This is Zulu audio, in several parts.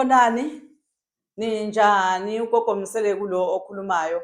Xolani, ninjani ugogo Msele kulo okhulumayo.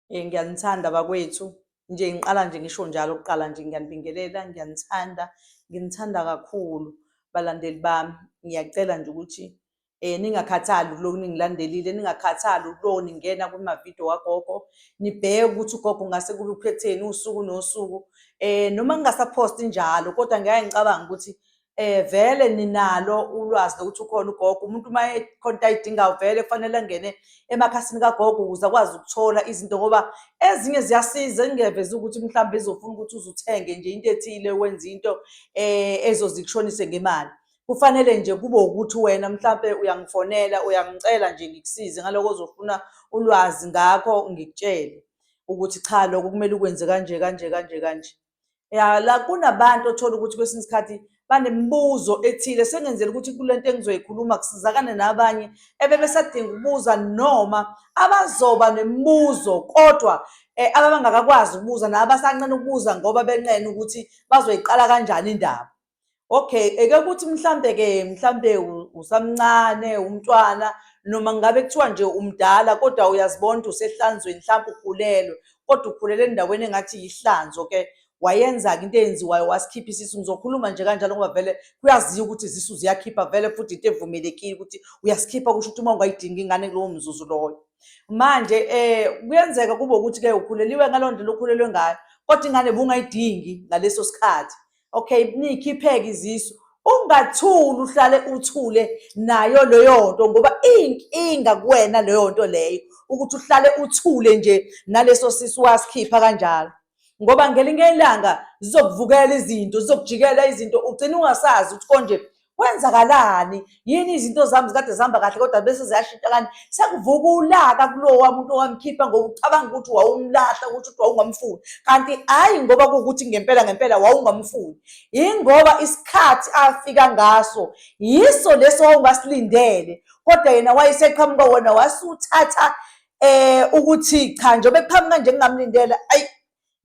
Eh ngiyanithanda bakwethu. Nje ngiqala nje ngisho njalo kuqala nje ngiyanibingelela, ngiyanithanda, nginithanda kakhulu balandeli bami. Ngiyacela nje ukuthi eh ningakhathali kuloku ningilandelile, ningakhathali kuloku ningena kuma-video kagogo, nibheke ukuthi ugogo ngase kube uphetheni usuku nosuku. Eh noma ngingasaphosti njalo kodwa ngeke ngicabanga ukuthi eh vele ninalo ulwazi lokuthi ukhona ugogo umuntu uma ekhona ayidingayo vele kufanele angene emakhasini kagogo ukuze akwazi ukuthola izinto ngoba ezinye ziyasiza engeveza ukuthi mhlawumbe izofuna ukuthi uzuthenge nje into ethile wenze into eh ezozikushonise ngemali kufanele nje kube ukuthi wena mhlawumbe uyangifonela uyangicela nje ngikusize ngaloko ozofuna ulwazi ngakho ngikutshele ukuthi cha lokho kumele ukwenze kanje kanje kanje kanje ya la kunabantu othola ukuthi kwesinye isikhathi banemibuzo ethile sengenzela ukuthi kule nto engizoyikhuluma kusizakane nabanye ebebesadinga ukubuza noma abazoba nemibuzo kodwa um ababangakakwazi ukubuza nabasanqena ukubuza ngoba benqena ukuthi bazoyiqala kanjani indaba okay eke ukuthi mhlambe ke mhlambe usamncane umntwana noma ngabe kuthiwa nje umdala kodwa uyazibona usehlanzweni mhlambe ukhulelwe kodwa ukhulele endaweni engathi yihlanzo ke wayenza-ke into eyenziwayo wasikhipha isisu ngizokhuluma nje kanjalo ngoba vele kuyaziwa ukuthi izisu ziyakhipha vele futhi into evumelekile ukuthi uyasikhipha kusho ukuthi uma ungayidingi ingane kulowo mzuzu loyo manje um kuyenzeka kube ukuthi-ke ukhuleliwe ngaloo ndlela okhulelwe ngayo kodwa ingane bungayidingi ngaleso sikhathi okay niyikhipheke izisu ungathuli uhlale uthule nayo leyo nto ngoba iyinkinga kuwena leyo nto leyo ukuthi uhlale uthule nje naleso sisu wasikhipha kanjalo ngoba ngelinye ilanga zizokuvukela izinto zizokujikela izinto ugcina ungasazi ukuthi konje kwenzakalani yini izinto zami zikade zihamba kahle kodwa bese ziyashintsha kanti sekuvuka ulaka kulowa muntu owamkhipha ngoba ucabanga ukuthi wawumlahla ukuthi ukuthi wawungamfuni kanti hhayi ngoba kuwukuthi ngempela ngempela wawungamfuni yingoba isikhathi afika ngaso yiso leso wawungasilindele kodwa yena wayeseqhamuka wona wasuthatha um ukuthi cha njengoba kuqhamuka nje ngingamlindela ayi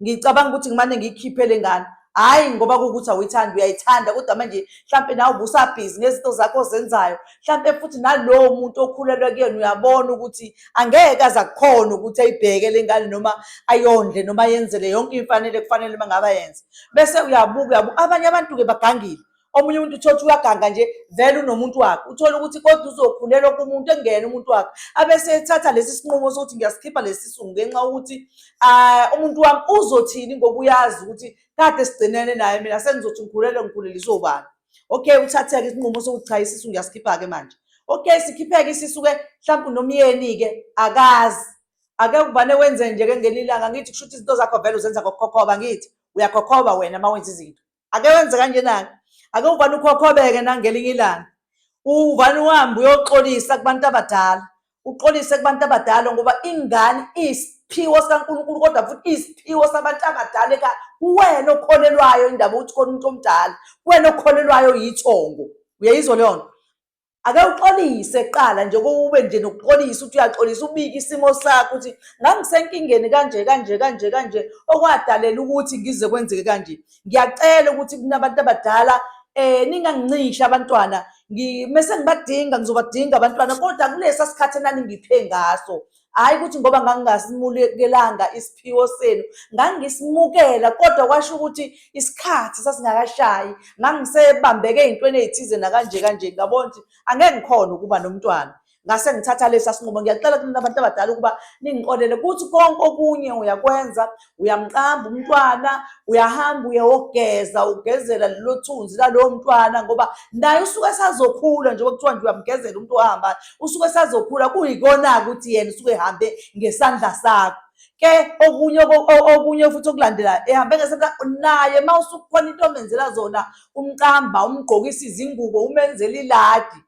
ngicabanga ukuthi ngimane ngiyikhiphe le ngane hhayi ngoba kuwukuthi awuyithandi uyayithanda kodwa manje mhlampe nawe ubusabhizi ngezinto zakho ozenzayo mhlampe futhi nalowo muntu okhulelwe kuyena uyabona ukuthi angeke aze akukhona ukuthi ayibheke le ngane noma ayondle noma yenzele yonke imfanele kufanele uma ngabe ayenze bese uyabuka uyabuka abanye abantu-ke bagangile omunye umuntu uthole ukuthi uyaganga nje vele unomuntu wakhe uthole ukuthi kodwa uzokhulelwa kumuntu engene umuntu wakhe abese ethatha lesi sinqumo sokuthi ngiyasikhipha lesi sungu ngenxa yokuthi um umuntu wami uzothini ngoba uyazi ukuthi kade sigcinene naye mina sengizothi ngikhulelwe ngikhuleliswe ubani okay uthatheke isinqumo sokuthi cha isisu ngiyasikhipha-ke manje okay sikhipheke isisu-ke mhlawumpe unomyeni-ke akazi ake kubane wenze nje-ke ngelilanga ngithi kusho ukuthi izinto zakho vele uzenza ngokukhokhoba ngithi uyakhokhoba wena uma wenza izinto ake wenze kanjena-ke ake uvane ukhokhobeke nangelinye ilanga uvane uhambe uyoxolisa kubantu abadala uxolise kubantu abadala ngoba ingane iyisiphiwo sikankulunkulu kodwa futhi iyisiphiwo sabantu abadala ekhaya kuwena okholelwayo indaba ukuthi khona umuntu omdala kuwena okholelwayo yithongo uyayizwa leyo nto ake uxolise kuqala nje kube nje nokuxolisa ukuthi uyaxolisa ubike isimo sakho ukuthi ngangisenkingeni kanje kanje kanje kanje okwadalela ukuthi ngize kwenzeke kanje ngiyacela ukuthi kunabantu abadala eh ningangincisha abantwana ngimese ngibadinga ngizobadinga abantwana kodwa kulesa sikhathi enaningiphe ngaso hhayi ukuthi ngoba ngangingasimukelanga isiphiwo senu ngangisimukela kodwa kwasho ukuthi isikhathi sasingakashayi ngangisebambeke ey'ntweni ey'thize nakanje kanje ngabona ukuthi angeke ngikhona ukuba nomntwana ngase ngithatha lesi asinqumo ngiyacela kunina abantu abadala ukuba ningiqolele kuthi konke okunye uyakwenza uyamqamba umntwana uyahamba uyewogeza ugezela lelo thunzi lalowo mntwana ngoba naye usuke esazokhula njengoba kuthiwa nje uyamgezela umuntu ohamba usuke esazokhula kuyikona-ke ukuthi yena usuke ehambe ngesandla sakho ke okunye okunye futhi okulandelayo ehambe ngesandla naye uma usukhona into omenzela zona umqamba umgqokisa izingubo umenzela iladi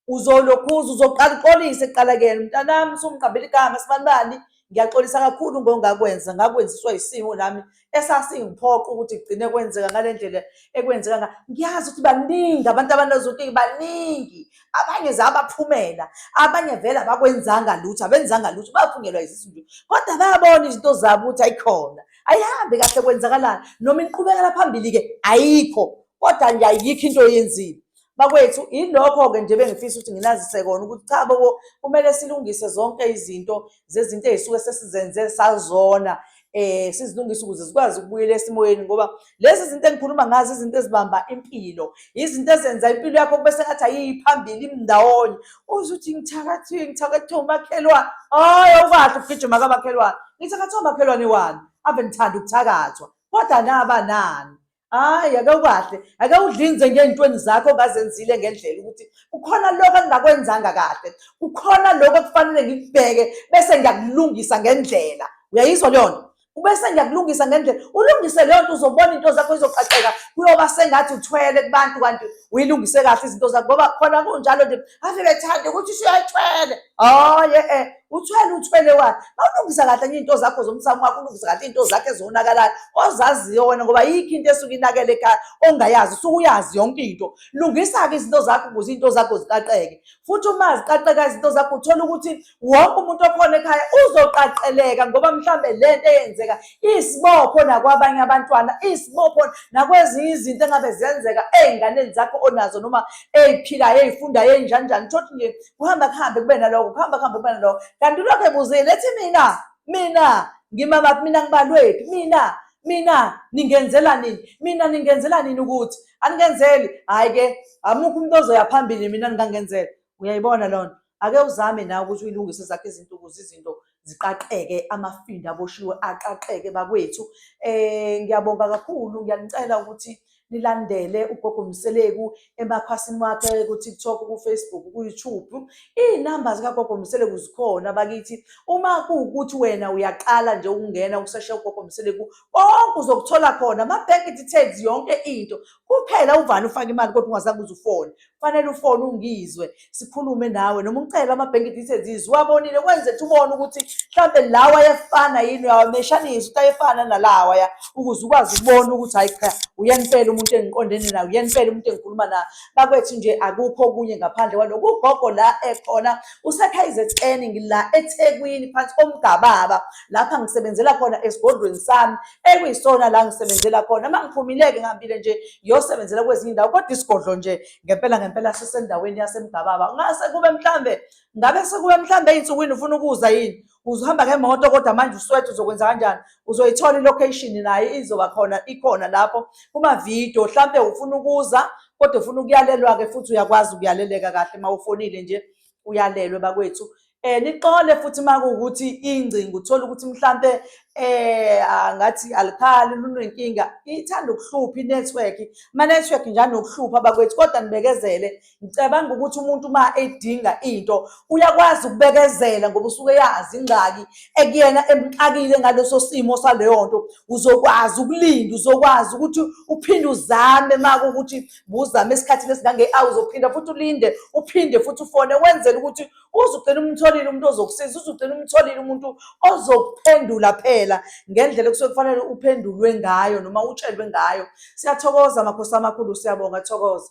uzolokhuza uzoqala uxolise kuqala kuyena mntanami usumqambela igama sibanibani ngiyaxolisa kakhulu ngongakwenza ngakwenziswa isimo nami esasingiphoqa ukuthi kugcine kwenzeka ngale ndlela ekwenzeka nga ngiyazi ukuthi baningi abantu abanezonkinga baningi abanye zabaphumela abanye vele abakwenzanga lutho abenzanga lutho baphungelwa izisu nje kodwa bayabona izinto zabo ukuthi ayikhona ayihambi kahle kwenzakalani noma inqubekela phambili-ke ayikho kodwa nje ayikho into oyenzile Bakwethu ilokho-ke nje bengifisa ukuthi nginazise kona ukuthi cha bobo kumele silungise zonke izinto zezinto ey'suke sesizenze sazona eh sizilungise ukuze zikwazi ukubuyela esimoyeni ngoba lezi zinto engikhuluma ngazo izinto ezibamba impilo izinto ezenza impilo yakho kube sengathi ayiyiphambili imndawonye uzuthi ngithakathile ngithakathwe umakhelwane hayi awukahle ukugijima kamakhelwane ngithakathwe umakhelwane wani ave ngithanda ukuthakathwa kodwa naba nani hayi ake ukahle ake udlinze ngey'ntweni zakho ongazenzile ngendlela ukuthi kukhona lokho engingakwenzanga kahle kukhona lokho ekufanele ngikubheke bese ngiyakulungisa ngendlela uyayizwa leyo nto ubese ngiyakulungisa ngendlela ulungise leyo nto uzobona into zakho izoqaqeka kuyoba sengathi uthwele kubantu kanti uyilungise kahle izinto zakho ngoba khona kunjalo nje ave bethande ukuthi usuyathwele hayi e-e uthwele uthwele wani mawulungisa kahle nye into zakho zomsamo wakho ulungisa kahle into zakho ezonakalayo ozaziyo wena ngoba yikho into esuke inakele ekhaya ongayazi usuke uyazi yonke into lungisa-ke izinto zakho ukuze into zakho ziqaqeke futhi uma ziqaqeka izinto zakho uthole ukuthi wonke umuntu okhona ekhaya uzoqaqeleka ngoba mhlawumbe le nto eyenzeka isibopho nakwabanye abantwana isibopho nakwezinye izinto engabe ziyenzeka ey'nganeni zakho onazo noma ey'philayo ey'fundayo ey'njanjani uthole nje kuhamba kuhambe kube naloko kuhamba kuhambe kube naloko kanti ulokhu ebuzile ethi mina mina ngimamaphi mina ngibalwephi mina mina ningenzela nini mina ningenzela nini ukuthi aningenzeli hhayi-ke amukho umuntu ozoya phambili mina ningangenzela uyayibona loo nto ake uzame nawe ukuthi uyilungise zakho izinto ukuze izinto ziqaqeke amafinda aboshiwe aqaqeke bakwethu um ngiyabonga kakhulu ngiyanicela ukuthi nilandele ugogo mseleku emakhasini wakhe kutiktok kufacebook kuyoutube iy'namba zikagogo mseleku zikhona bakithi uma kuwukuthi wena uyaqala nje ukungena ukuseshe ugogo mseleku konke uzokuthola khona ama-bank details yonke into kuphela uvani ufake imali kodwa ungazange uzufone kufanele ufone ungizwe sikhulume nawe noma ucele ama-bank details izwe uwabonile kwenze ukuthi ubone ukuthi mhlawumbe lawa ayefana yini uyawameshanisa ukuthi ayefana nalawaya ukuze ukwazi ukubona ukuthi hhayi cha uyempela umuntu engiqondene naye uyempela umuntu engikhuluma naye bakwethu nje akukho okunye ngaphandle kwaloko ugogo la ekhona usekhayizetseni ngila ethekwini phansi komgababa lapha ngisebenzela khona esigodlweni sami ekuyisona la ngisebenzela khona uma ngiphumileke ngihambile nje ngiyosebenzela kwezinye indawo kodwa isigodlo nje ngempela ngempela sisendaweni yasemgababa ngase kube mhlambe ngabe sekube mhlambe ey'nsukwini ufuna ukuza yini uzohamba ngemoto kodwa manje uswethu uzokwenza kanjani uzoyithola ilocation naye izoba khona ikhona lapho kumavidiyo mhlampe ufuna ukuza kodwa ufuna ukuyalelwa-ke futhi uyakwazi ukuyaleleka kahle uma ufonile nje uyalelwe bakwethu um nixole futhi uma kuwukuthi ingcingo uthole ukuthi mhlampe um ngathi alikhali lunenkinga ithanda ukuhlupha inethiwekhi amanethiwekhi njani nokuhlupha bakwethu kodwa nibekezele ngicabanga ukuthi umuntu uma edinga into uyakwazi ukubekezela ngoba usuke yazi ingxaki ekuyena emxakile ngaleso simo saleyo nto uzokwazi ukulinda uzokwazi ukuthi uphinde uzame uma kuwukuthi buzame esikhathini esingange-awu uzophinda futhi ulinde uphinde futhi ufone wenzela ukuthi uze ugcine umtholile umuntu ozokusiza uze ugcine umtholile umuntu ozokuphendula phela ngendlela kusuke kufanele uphendulwe ngayo noma utshelwe ngayo siyathokoza makhosi amakhulu siyabonga thokoza